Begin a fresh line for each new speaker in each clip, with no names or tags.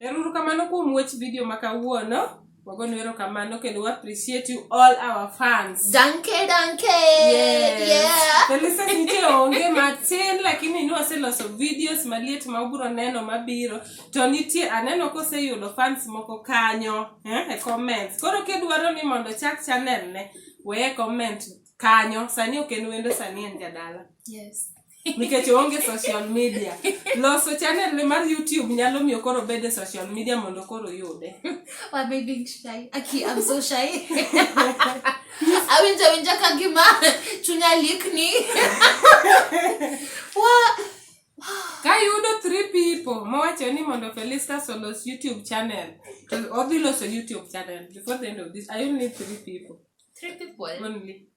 Eruru kamano kuom watch video ma kawuono. Wagonu erokamano kendo we appreciate you all our fans. Danke, danke.
Yes.
Yeah. The
listeners nitie
onge matin lakini ni waseloso videos maliet ma ubiro neno mabiro to nitie aneno koseyudo fans moko kanyo eh, e comments. Koro kidwaro ni mondo chak channel ne weye comment kanyo sani ok en wendo sani en jadala. Yes.
nikech oonge
social media loso channel mar youtube nyalo miyo koro bed e social media mondo koro yude Why am I being
shy? Aki, I'm so shy. awinjo awinja ka gima chunya likni Wa- ka
yudo three people mowacho ni mondo felistas olos youtube channel to odhi loso youtube channel before the end of this i only need three people three people
only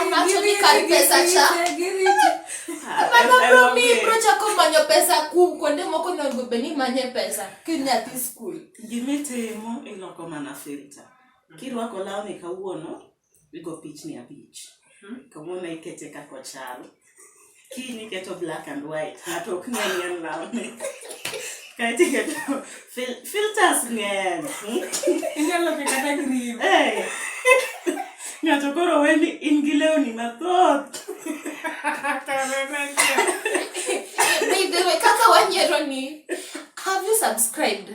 anachonikaripesachamanobromiprochakomanyo pesa kum kuonde moko onego bed ni manye pesa kinyathi skul gimitimo
iloko mana filta kirwako lawni kawuono igo pichni abich kawuono ikete kakochal kiny iketo black and white ng'ato ok ng'e ni en lawni kae to iketo fil- filters ng'eny hmm? Inyalo
dhi kata green. Eh,
ng'ato koro we ni in gi lewni mathoth
By the way, kaka wanyiero ni, have you subscribed?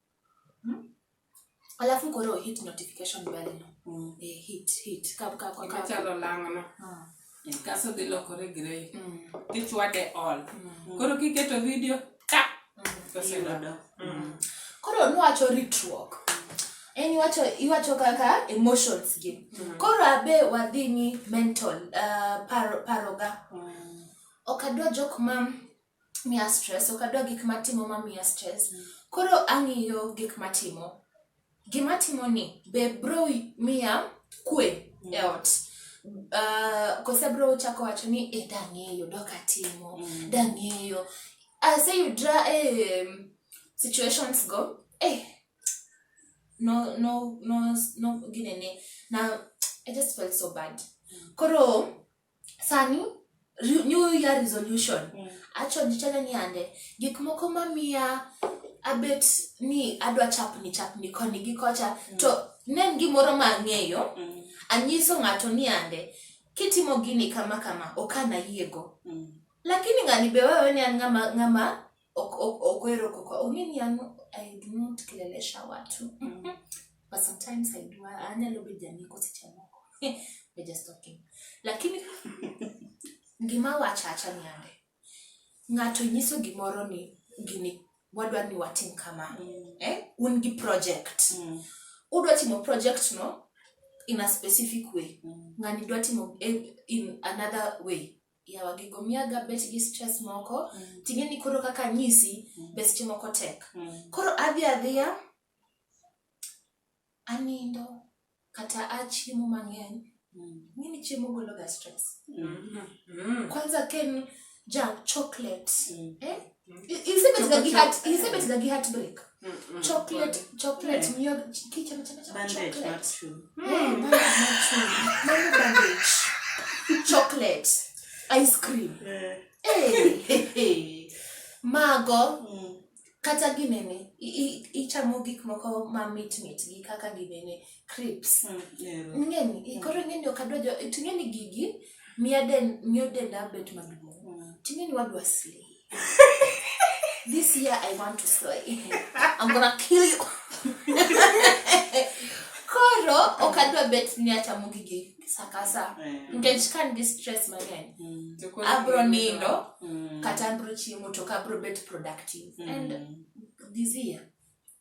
Alafu koro hit notification bell no. Mm. Eh, hit, hit. Ka, ka, ka, ka. Machalo
lang'no. Ah. Kaso dhi lokore grey. Mm. Tichwade all. Mm. Koro kiketo video, ka! Oselodo. Mm.
Koro nwacho ritruok. En iwacho, iwacho kaka emotions gi. Koro abe wadhi ni mental, uh, paro, paroga. Ok adwa jok ma miya stress, ok adwa gik matimo mamiya stress. Koro ang'iyo gik matimo. Gima atimoni be bro miya kwe e ot? Koso abro chako wacho ni eh dang'eyo dok atimo, dang'eyo. Aseyudra e situations go, eh no, no, no, no ginene, na, I just felt so bad. Koro sani new year resolution mm. acho nichane ni ande gik moko mamiya abet ni adwa chapni chapni koni gi kocha mm. to ne en gimoro ma ang'eyo mm. anyiso ng'ato ni ande kitimo gini kama kama ok anayiego mm. lakini ng'ani be wewe ni an ng'ama ng'ama Ok- ok- okwero koko ong'e ni an i do not kelelesha watu Mm. but sometimes i do anyalo bedo janeko seche moko We're just talking lakini gima wachacha niande ng'ato nyiso gimoro ni gini wadwa ni watim kama Mm. eh? un gi project Mm. udwa timo project no in a specific way Mm. ng'ani dwa timo eh, in another way yawa gigo miyaga bet gi stress moko mm. ting'e ni koro kaka nyisi mm. be seche moko tek mm. koro adhi adhiya anindo kata achiemo mang'eny mm. ng'eni chiemo gologa stress mm. Mm. kwanza ken ja chocolate mm. eh? chocolate ice cream yeah. hey, hey, hey. mago mm. kata ginene ichamo gik moko mamit mit gi kaka ginene crips Mm, ero. ing'eni i- koro ing'eni ok adwa jo to ing'eni gigi miya den miyo denda bet maduong' Mm. to ing'eni wadwa slay this year i want to slay i'm gonna kill you koro ok adwa bet ni achamo gigi sakasa Eh. nikech ka nigi stress mang'eny Mm. To koro abro gini- nindo Mm. kata abro chiemo to ok abro bet productive and Mm. this year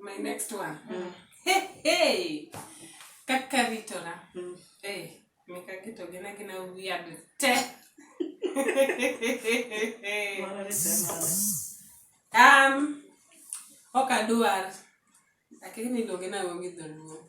My next one. Mm. Hey, hey. Kaka ritora. Mm. Hey, eh, meka kito gina gina weird te. um, ok aduar lakini niluonge na onge dholuo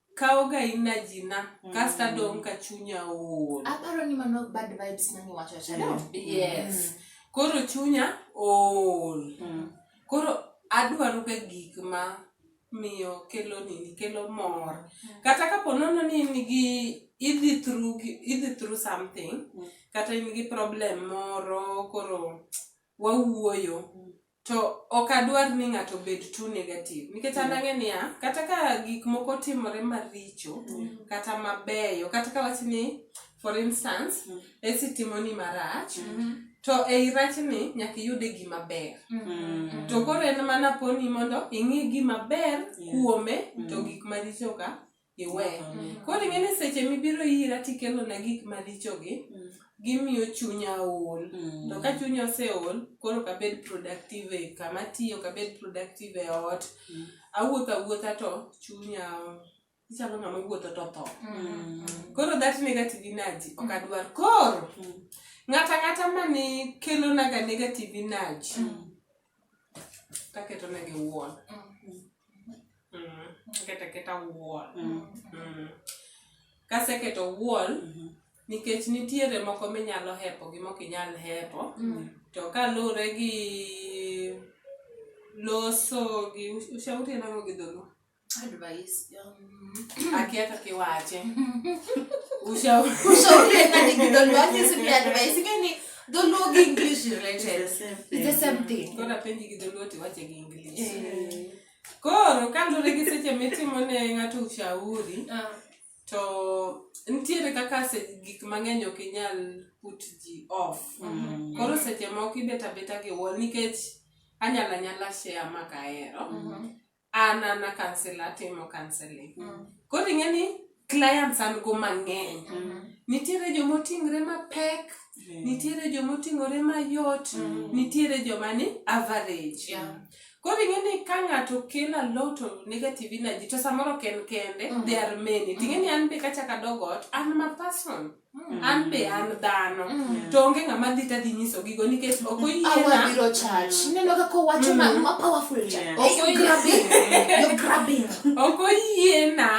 kawoga energy na kasto adong' ka chunya ool aparo ni mano bad
vibes mane iwacho cha no? yes koro chunya
ool koro adwaroga gik ma miyo kelo nini kelo mor kata kapo nono ni in gi idhi through gi- idhi through something kata in gi problem moro koro wawuoyo To ok adwar ni ng'ato obed too negative nikech an ang'e niya kata ka gik moko timore maricho kata mabeyo kata ka wach ni for instance esi timoni marach to ei rachni nyaka iyude gima ber to koro en mana poni mondo ing'i gima ber kuome to gik maricho ka iwe. Mm. Koro ing'e ni seche mibiro ira tikelona gik marichogi, mm. gimiyo chunya ol. Mm. To ka chunya oseol, koro ok abed productive e kama atiyo, ok abed productive e ot. Mm. Awuotho awuotha to chunya ichalo ng'ama wuotho to tho. Mm. Koro that negative energy ok adwar. Koro mm. ng'ata ng'ata mani kelona ga negative energy. Mm. Taketo ne gi wuon. Mm. Aketa keta wuon. Mm. Mm. Kaseketo wuon, nikech nitiere moko minyalo hepo gi mok inyal hepo. To kaluwore gi loso gi ushauri en ang'o gi dholuo?
Advice. Um,
Akia kaka iwache. Ushauri.
Ushauri ena ni kidol wake si pia advice gani? Dholuo gi English related. It's the same thing. Kora penji gi dholuo ti
wache gi English. Eh. Koro kaluwore gi seche mitimo ne ng'ato ushauri, ah. to nitiere kaka gik mang'eny ok inyal put ji off. Mm. Koro seche moko ibet abeta gi wall nikech anyala nyala share ma kahero. Mm-hmm. an an akansel atimo kanseling mm. koro ing'e ni clients an go mang'eny mm. nitiere joma oting're mapek mm. nitiere joma oting'ore mayot mm. nitiere joma ni average yeah. koro ing'e ni ka ng'ato kelo alot of negative energy to samoro ok en kende mm. there are many ting'e ni an be kachaka dogot an ma person Mm. an be an dhano mm. to onge ng'ama dhi tadhi nyiso gigo nikech ok oyienabiro chach
mm. ineno kaka owacho ma ma powerful cha ok grabbing you grabbing ok oyiena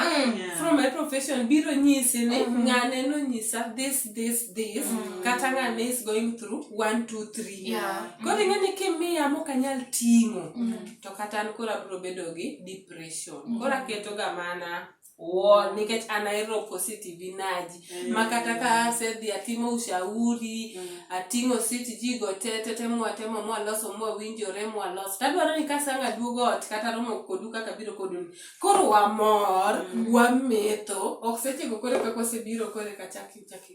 from my profession biro nyisi ni mm-hmm. ng'ane no nyisa this this this kata ng'ane is going through one two three koro ing'e ni kimiya mok anyal ting'o to kata an koro abiro bedo gi depression koro aketoga mana Wo, nikech an ahero positive energy Mm. ma kata ka asedhi atimo ushauri Mm. ating'o siti jigo te te te mwatemo mwaloso mwawinjore mwaloso tadwaro ni kasang' aduogo ot kata romo kodu kaka biro kodu koro wamor Mm. wametho ok sechego kore kaka osebiro kore kachaki chaki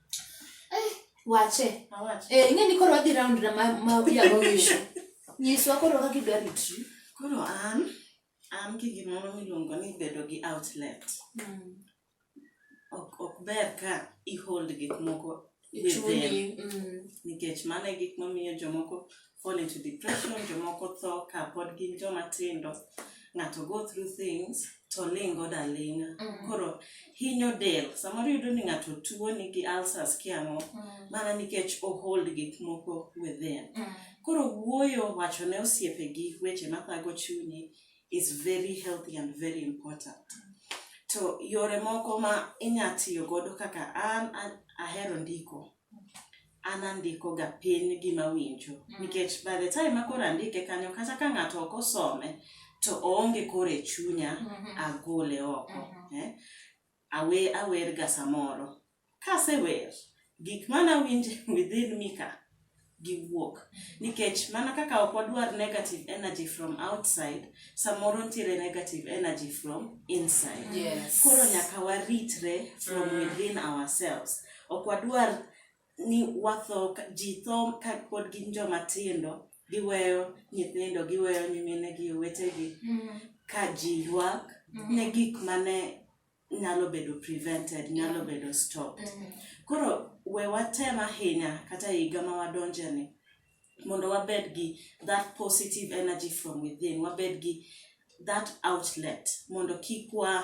Wache. Awache. Eh, ing'e ni koro wadhi round na ma ma yago wisho. Nyiswa koro kaka idwa ritri. Koro an,
an gi gimoro miluongo ni bedo gi outlet. Ok, ok ber ka i hold gik moko within. Chuni. Mm. Nikech mano e gik mamiyo jomoko fall into depression, jomoko tho ka pod gin joma tindo, ng'ato go through things to lingo da linga. Mm -hmm. Koro hinyo del, samoro yudo ni ng'ato tuo nigi ulcers kiang'o, mm -hmm. mana nikech o hold gik moko within. Mm -hmm. Koro wuoyo wacho ne osiepe gi weche mathago chuni is very healthy and very important. Mm -hmm. To yore moko ma inya tiyo godo kaka an ahero ndiko. an andiko ga piny gima awinjo mm. nikech by the time makoro andike kanyo kata ka ng'ato ok osome to oonge koro e chunya mm -hmm. agole oko mm -hmm. eh? awe awer ga samoro kasewer gik mana awinjo within me ka giwuok mm-hmm. nikech mana kaka ok wadwar negative energy from outside samoro ntiere negative energy from inside yes. koro nyaka waritre from mm. within ourselves Ok wadwar ni watho ji tho ka pod gin joma tindo, giweyo nyithindo, giweyo nyimine gi owetegi mm. ka ji ywak mm. ne gik mane nyalo bedo prevented, nyalo mm. bedo stopped. Mm. Koro we watem ahinya kata higa ma wadonje ni mondo wabed gi that positive energy from within, wabed gi that outlet mondo kik wa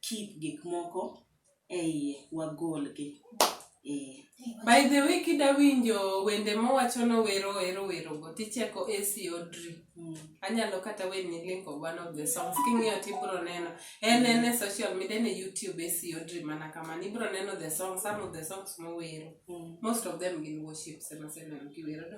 keep gik moko eiye wagolgi eh.
by the way kida winjo wende mowacho nowero ero werogo ticheko ac odri mm. anyalo kata weni link of one of the songs king'iyo tibro neno en en e social media en e youtube ac odri mana kamano ibro neno the song some of the songs mowero mm. most of them gin worships emaseneno kiwero do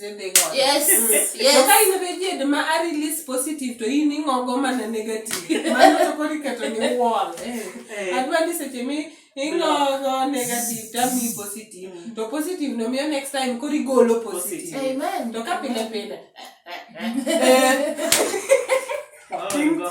when they gone. Yes, So yes.
ka in
reject ma a release positive to in ing'ogo mana negative. Mano to koro iketo ni wall. Eh. Adwa ni seche mi ing'ogo negative to ami positive. To positive no miyo next time koro igolo positive. Amen. To ka pile
pile.
Eh. Oringo.